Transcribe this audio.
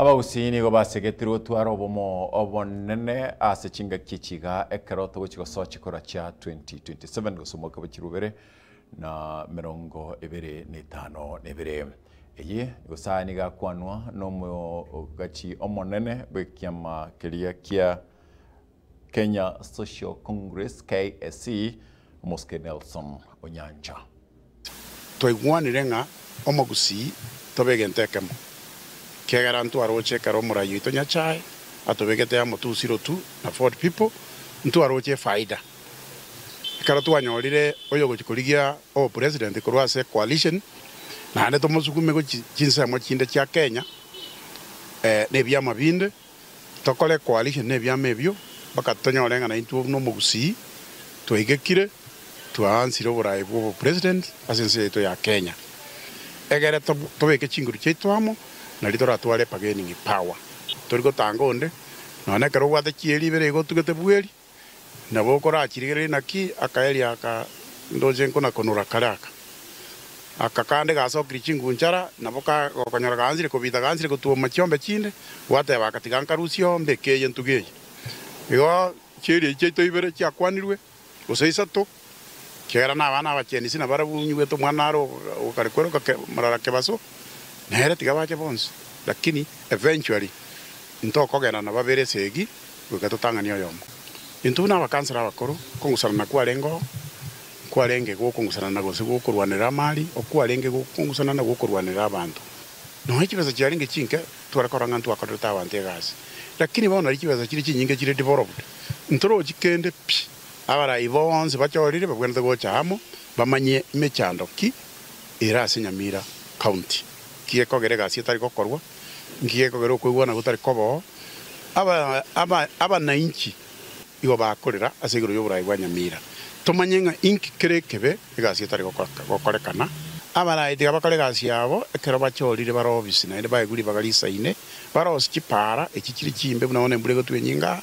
Abagusii nigo basegetirwe gotwara obomo obonene ase chingaki echi iga ekero togochia gosoa chikura chia 2027 gose omwaka bwa chiluu ibere na emerongo ebere na etano na ebere. Eye gose aya nigo akwanwa nomogachi omonene bw'ekiama keria kia. Kenya Social Congress, KSC, Omosike Nelson Onyancha. Twaigwanire ng'a omogusii tobe egento ekemo, ekiagera ntwaroche ekero Omoraai oito Nyasae atobegete amo tu Sirotu na Ford People, ntwaroche efaida. Ekero twanyorire oyogochia korigia obopresident korwa ase coalition, naende tomosugume gochia chinsemo chinde chia Kenya, nebiama binde, Tokore koarigia nebiama ebio, mpaka tonyore ng'a naintwe buna omogusii twaigekire, twaansire oboraai bw'obopresident ase ense yaito ya Kenya. Egere tobeke chinguru chiaito amo, nari toratware bargaining power. Tori gotanga onde, nonya nekero obwate chieri ibere igo otugete bweri. Nabo okorachirigereria naki akaeria aka ndoche nkonakonora kare aka. Aka kande gasokirie chinguru nchara, nabo ka gokonyora gaanchire kobita gaanchire gotwoma chiombe chinde, gwateba aka tiga nkarusie oo mbeke eye ntuge eye. Igo chieria echi chiaito ibere chiakwanirwe, gose isato. ekiagera nabana abachenu isi nabarabwo onye gwete omwana are ogokare kweroka morara kebaso nere tiga bache bonsi lakini eventually intokogenda na babere esegi goika totang'ani oyomo. Intwe buna abakansera abakoro okong'usanana kwarengeo nkwarenge gokong'usanana gose gokorwanera amari okwarenge gokong'usanana gokorwanera abanto nonya chibesa chiarenge chinke tware korora ng'a ntwakorerete abanto egasi lakini bono nari chibesa chire chinyinge chire developed ntorochi kende pi. Abarai bonsi bachorire babwenerete gocha amo bamanye emechando ki ere ase Nyamira County, nki gekogera egasi etari gokorwa, nki gekogera okoigwana gotari koboo, abanainchi igo bakorera ase igoro y'oborai bwa Nyamira, tomanye ng'a inki kere ekebe, egasi etari gokorekana. Abarai tiga bakore egasi yabo ekero bachorire bare obisi, naende baegure ribaga risaine, bare obisi chipaara echi chire chimbe buna bono embura egotwa enyinga.